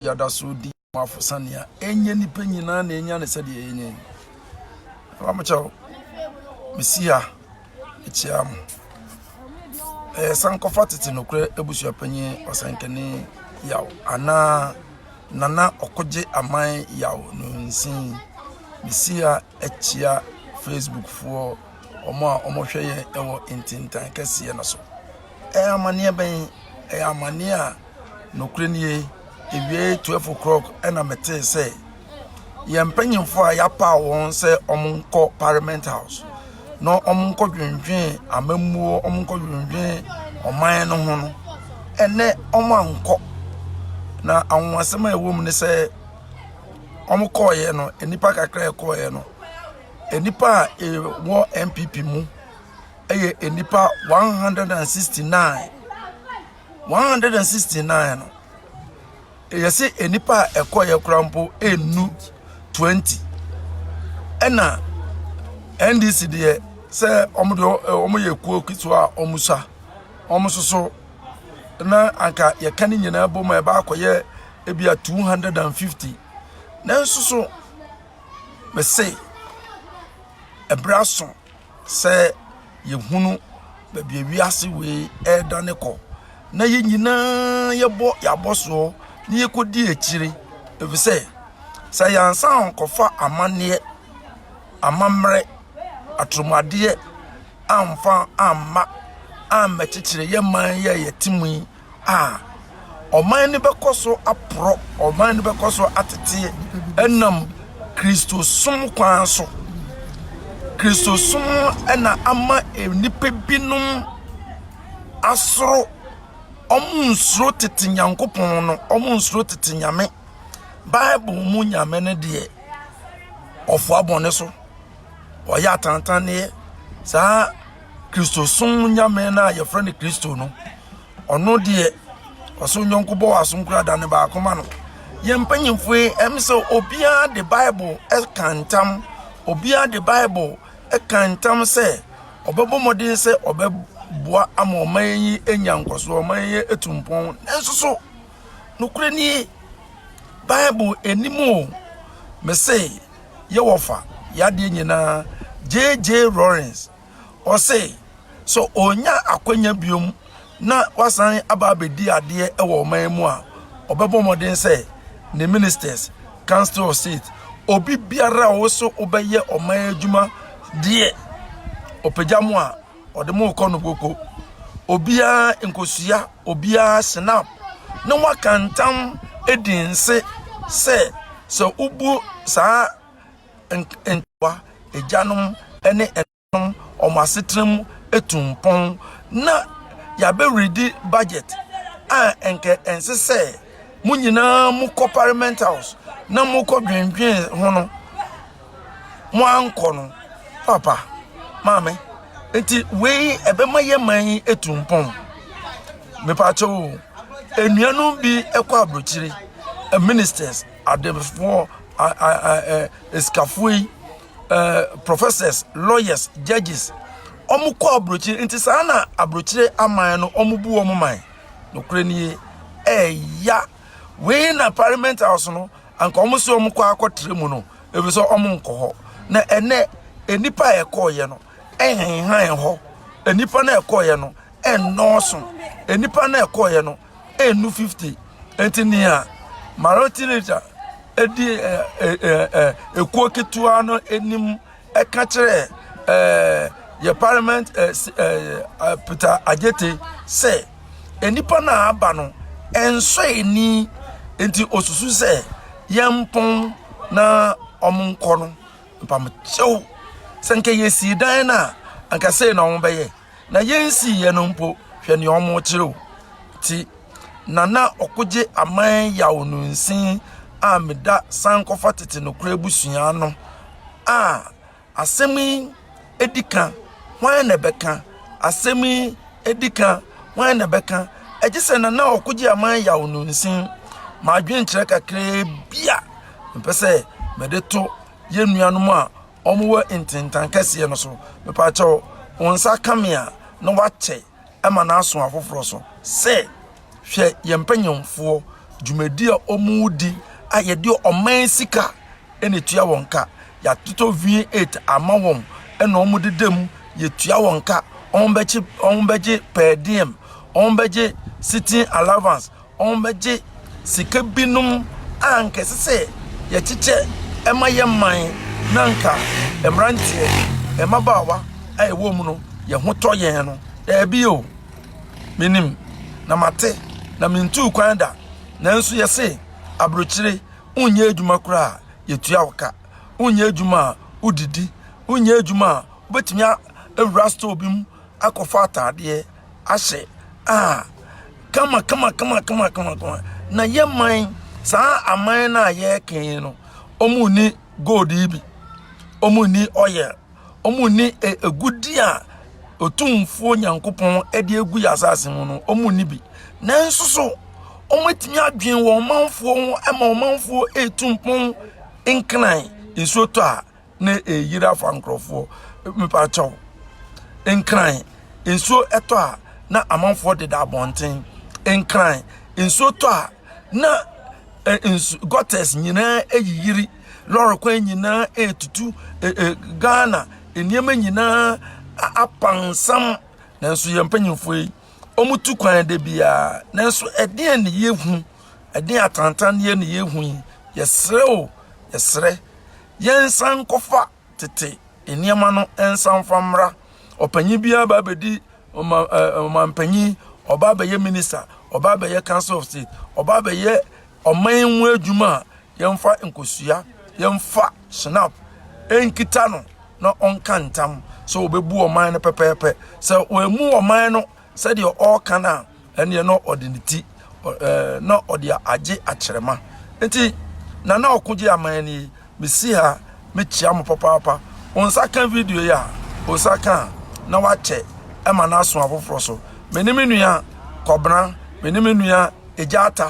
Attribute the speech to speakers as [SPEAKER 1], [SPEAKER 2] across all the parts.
[SPEAKER 1] yɛada so redi mo afosa nea ɛnyɛ nipa nyinaa na ɛnya ne sɛdeɛ yɛnya yi ɛba mo kyɛw mesi ha mekyia mo ɛyɛ sankɔfa tete nokorɛ abusua panyin ɔsɛnkani yaw anaa nana ɔkogye aman yaw no nsin mesi ha akyia facebook foɔ ɔmo a ɔmo hwɛ yɛ ɛwɔ ntintan kɛseɛ no so ɛyɛ amaneɛ bɛn ɛyɛ amaneɛ a Nokorɛ nie, ewiee twelve o'clock ɛna metee sɛ yɛn mpanyinfoɔ a yɛapaa wɔn sɛ wɔnkɔ parliament house na wɔnkɔ dwendwen amammuo wɔnkɔ dwendwen ɔman no ho no ɛnɛ wɔn ankɔ na anwonwasɛm a ɛwɔ mu ne sɛ wɔn kɔɔeɛ no nnipa kakra a ɛkɔɔeɛ no nnipa a ɛwɔ npp mu ɛyɛ nnipa one hundred and sixty nine. one hundred and sixty nine no ɛyɛ sɛ nnipa a ɛkɔeɛ koraa mpo ɛnnu twenty ɛna ndc deɛ sɛ wɔn deɛ wɔn yɛ kuo ketewa a wɔn sa wɔn nso so na anka yɛka ne nyinaa bɔ mu a ɛbɛ akɔyɛ ebi a two hundred and fifty nanso so mɛsɛ ɛbrɛ aso. Sɛ yɛhunu baabi a wiase wei redane kɔ na yɛn nyinaa yɛbɔ yɛn abɔsoɔ na yɛkɔdi akyire ɛfiri sɛ sɛ yɛansan ankɔfa amanneɛ amammerɛ aturomadeɛ amfa amma ammɛkyekyere yɛn man yi a yɛte mu yi a, ɔman no bɛkɔ so aporɔ, ɔman no bɛkɔ so ateteɛ ɛnam Kristosom kwan so. Kristosom ɛna ama nnipa binom asoro, wɔn nsoro tete Nyankopɔn no, wɔn nsoro tete Nyame. Bible mu Nyame no deɛ, ɔfoa bɔne so, ɔyɛ atantanneɛ, saa Kristosom nyame no a yɛfrɛ no Kristo no, ɔno deɛ ɔso nyɔnko bɔ w'aso nkura da ne baako ma no. Yɛn mpanyimfo yi ɛm sɛ obiara de Bible ɛka ntam, obiara de Bible ɛka ntam sɛ ɔbɛbɔ mmɔden sɛ ɔbɛboa ama ɔman yi anya nkɔsoɔ, ɔman yi atu mpɔn. Nanso so Nokorɛ nie, Bible nnim o, mese yɛwɔfa yadeɛ nyinaa. JJ Rollins, ɔse sɛ ɔnya akwanya biom na wasan aba abɛdi adeɛ wɔ ɔman mu a, ɔbɛbɔ mmɔden sɛ ne ministers, council of state, obi biara a ɔwɔ so wobɛyɛ ɔman adwuma deɛ, ɔpagya mo a, Ɔde mo kɔ no boko. Obiara nkosua obiara snap na waka ntam edi nse sɛ sɛ wobu saa ntoa agyanom ne ɛnanom wɔn asetena mu etu mpɔn na yɛabɛredi budget a nkɛ ɛnse sɛ mo nyinaa mokɔ parliament house na mokɔ dwendwen ho no mo ankɔ no papa maame nti wei ɛbɛma yɛ man yi etu mpɔn mepatwa o enuanom bi ɛkɔ aburokyire ministers adefoɔ esikafoɔ yi ɛɛ professors lawyers judges wɔn kɔ aburokyire nti saa na aburokyire aman no wɔn bu wɔn man nokore nie ɛɛya wei na parliament house no anka wɔn sɛ wɔn kɔ akɔtra mu no ebi sɛ wɔn nkɔ hɔ na ɛnɛ nnipa a ɛkɔɔyɛ no ɛnhenhan hɔ nnipa na ɛkɔɔyɛ no ɛnnɔɔso nnipa na ɛkɔɔyɛ no ɛnnu fifty nti nea martin luther ɛdi ɛkuo ketewa no anim ɛka kyerɛ ɛɛ yɛ parliament ɛɛ peter agyete sɛ nnipa no a aba no ɛnsɔ ani nti osusu sɛ yɛn mpɔn na wɔn nkɔ no mpamokyɛw sɛ nka yɛsi dan no a anka sei na wɔn bɛyɛ. na yɛnsiiɛ no mpo, hwɛ nea wɔkyerɛw, ti, na na ɔkogye aman yaw no nsin a meda sankɔfa tete nokorɛ abusua no a asɛm yi adi ka hwan na ɛbɛka asɛm yi adi ka hwan na ɛbɛka ɛgye sɛ na na ɔkogye aman yaw no nsin m'adwenkyerɛ kakraa bi a mepɛ sɛ mede to yɛn nuanom a wɔn wɔ ntentan kɛseɛ no so mepaakyɛw wɔn nsa ka me a na wakyɛ ɛma no aso afoforɔ so sɛ hwɛ yɛn mpanyinfoɔ dwumadi a wɔn redi a yɛde ɔman sika ɛna etua wɔn ka yɛatotɔ v8 ama wɔn ɛna wɔn deda mu yɛtua wɔn ka wɔn bɛgye wɔn bɛgye per diem wɔn bɛgye sitting allowance wɔbɛgye sika binom a anka ɛsɛ sɛ yɛkyekyɛ ma yɛn man na anka mmeranteɛ, mmabaawa a ɛwɔ mu no, yɛn ho tɔ yɛn no. Daabi o, menim na mate na mentuu kwan da, nanso yɛse aburokyire wonyɛ adwuma koraa yɛtua wo ka, wonyɛ adwuma a wodidi, wonyɛ adwuma a wobɛtumi awura store bi mu akɔfa ataadeɛ. ahyɛ a kama kama kama kama kama kama na yɛ man saa aman no a yɛreka yi no wɔn ni gold yi bi wɔn ni oil wɔn ni egudi a otumfuo nyankopɔn de egu yɛ asase mu no wɔn ni bi nanso so wɔatumi adwene wɔn manfoɔ ho ma wɔn manfoɔ etu mpɔn nkran nsuo tɔ a. ne ɛreyiri afa nkurɔfoɔ mepaakyɛw nkran nsuo ɛtɔ a na amanfoɔ deda abɔnten nkran nsuo tɔ a na nsu gutters nyinaa ɛyiyiri lɔre kwan nyinaa ɛtutu ghana nneɛma nyinaa apansam nanso yɛn mpanyinfoɔ yi wɔn tu kwan de biara nanso ɛdeɛn ne yɛhu ɛdeɛn atantanneɛ ne yɛhu yi yɛsrɛ o yɛsrɛ yɛnsan nkɔfa tete nneɛma no nsa mfa mmra. Ɔpanyin biara ba abɛdi ɔma ɔmampanyin, ɔba abɛyɛ minista, ɔba abɛyɛ council of state, ɔba abɛyɛ ɔman mu adwuma a yɛmfa nkosua, yɛmfa snap nkita no na ɔnka ntam sɛ ɔbɛbu ɔman no pɛpɛɛpɛ. Sɛ wɔamu ɔman no sɛdeɛ ɔreka no a ɛneɛ na ɔde ne ti ɛɛ na ɔde agye akyerɛma nti na na ɔko gye aman ni mesi ha mekyia mo papaapa wɔn nsa ka video yi a wɔn nsa ka na wakyɛ ɛma no aso afoforɔ so me ne me nua kɔbena me ne me nua egya ata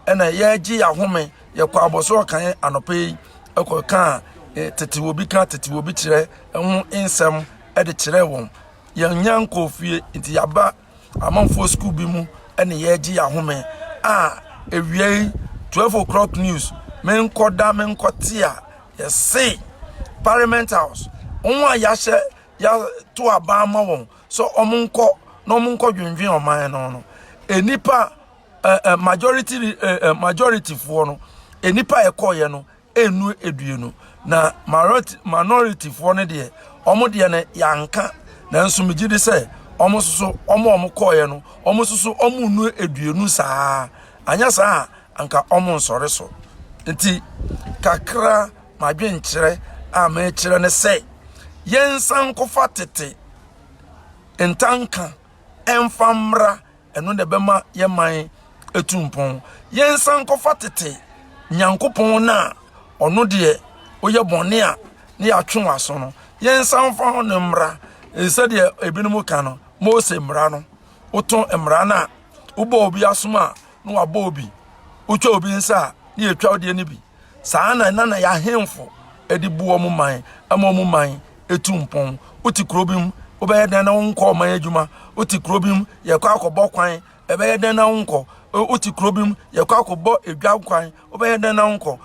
[SPEAKER 1] ɛna yɛregye yɛahome yɛkɔ abɔsoro kan anɔpɛ yi ɛkɔ kan tete obi ka tete obi kyerɛ ɛho nsɛm ɛde kyerɛ wɔn Yɛnnya nkɔɔ fie, enti yɛaba amanfoɔ sukuu bi mu ne yɛregye yɛn ahome a awiei 12 o'clock news menkɔda menkɔte a yɛse parliament house wɔn a yɛahyɛ yɛato aban ma wɔn sɛ wɔn nkɔ na wɔn nkɔ dwendwen ɔman no no nnipa majority majority foɔ no nnipa ɛkɔɔyɛ no ɛnnu aduonu na minorityfoɔ no deɛ wɔn deɛ no yɛanka nanso megye di sɛ wɔn nso so wɔn a wɔn kɔɔeɛ no wɔn nso so wɔn nnu aduonu saa anyɛ saa a anka wɔn nsɔre so nti kakra madwenkyerɛ a mekyerɛ ne sɛ yɛnsa nkofa tete ntanka ɛnfa mmra ɛno na ɛbɛma yɛn man atu mpɔn yɛnsan nkɔfa tete nyankopɔn no a ɔno deɛ woyɛ bɔne a ne yɛatwe w'aso no yɛnsan fa ho no mmara sɛdeɛ ebinom ka no mose mmara no wotɔn mmara no a wobɔ obi asom a na wabɔ obi wotwa obi nsa a ne yɛtwa wodeɛ no bi saa na na na yɛahemfo de bu wɔn man ma wɔn man etu mpɔn wote kuro bi mu wobɛyɛ dɛn na wonkɔ ɔman adwuma wote kuro bi mu yɛkɔ akɔbɔ kwan ɛbɛyɛ dɛn na wonkɔ wote kuro bi mu yɛkɔ akɔbɔ edwa kwan wobɛyɛ dɛn na wonkɔ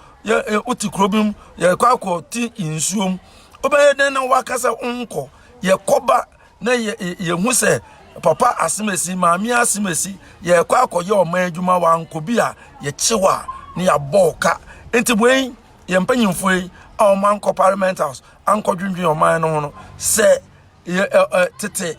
[SPEAKER 1] wote kuro bi mu yɛkɔ akɔ ti nsuom wobɛyɛ dɛn na wakasa wonkɔ yɛkɔba na yɛhu sɛ papa asem asi maame asem asi yɛkɔ akɔyɛ ɔman adwuma wankɔ bi a yɛkyew a ne yɛabɔ ka nti wei yɛ mpanyimfo yi a wɔn ankɔ parliament house ankɔ dwendwen ɔman no ho no sɛ tete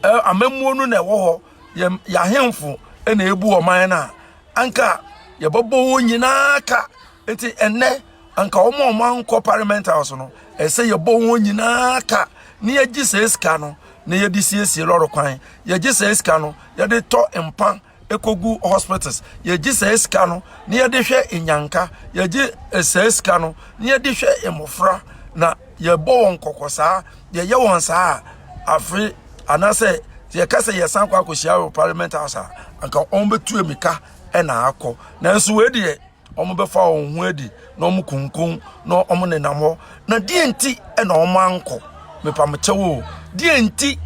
[SPEAKER 1] amammuo no na ɛwɔ hɔ yɛ ahemfo na ebu ɔman no a anka yɛbɛbɔ wɔn nyinaa ka nti ɛnɛ Anka wɔn a wɔankɔ Parliament House no, ɛsɛ sɛ yɛbɔ wɔn nyinaa ka na yɛgye saa sika no na yɛde siesie lɔre kwan, yɛgye saa sika no yɛde tɔ mpa ekogu hospitals, yɛgye saa sika no na yɛde hwɛ nyanka, yɛgye eh, saa sika no na yɛde hwɛ mmɔfra na yɛbɔ wɔn kɔkɔ saa, yɛyɛ wɔn saa a, afe anaasɛ yɛka sɛ yɛsan kɔ akɔhyia wɔ Parliament House a, anka wɔn bɛtu emika ɛna akɔ nanso wei deɛ wɔbɛfa wɔn ho adi na wɔkunkun na wɔnenam hɔ na deɛ nti na wɔankɔ mepamekyɛw o deɛ nti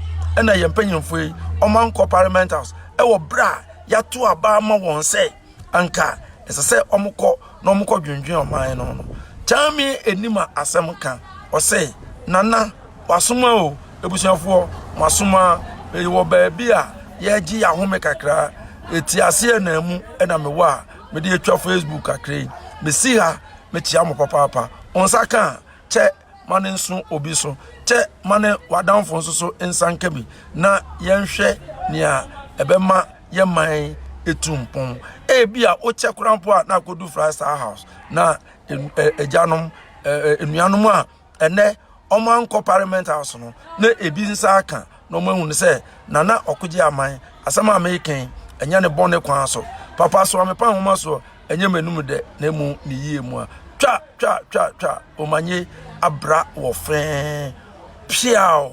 [SPEAKER 1] na yɛn mpanyimfo yi wɔankɔ parliament house ɛwɔ berɛ a yɛato aba ama wɔn sɛ anka ɛsɛ sɛ wɔkɔ na wɔkɔ dwendwen ɔman no no kyame anim a asɛm ka ɔsɛ nana wasoma o abusuafoɔ masoma wɔ baabi a yɛgye yɛahome kakra ɛti aseɛ na mu ɛna mewɔ a mede atwa facebook kakra yi mesi ha mekyia mo papaapa wɔn nsa ka a kyɛ ma ne nso obi so kyɛ ma ne w'adamfo nso so nsa nka bi na yɛnhwɛ nea ɛbɛma yɛ man etu mpɔn ebi a wokyɛ koraa mpo a na akɔdu fry star house na agyanom nnuanom a ɛnɛ wɔn ankɔ parliament house no na ebi nsa aka na wɔn ahunu sɛ nana ɔkogye aman asɛm a mekan ɛnyɛ ne bɔne kwan so papa so amepa nhoma so ɛnyɛ m'anum dɛ na emu ne yie mu a twa twa twa twa omanye abra wɔ fɛn piaw.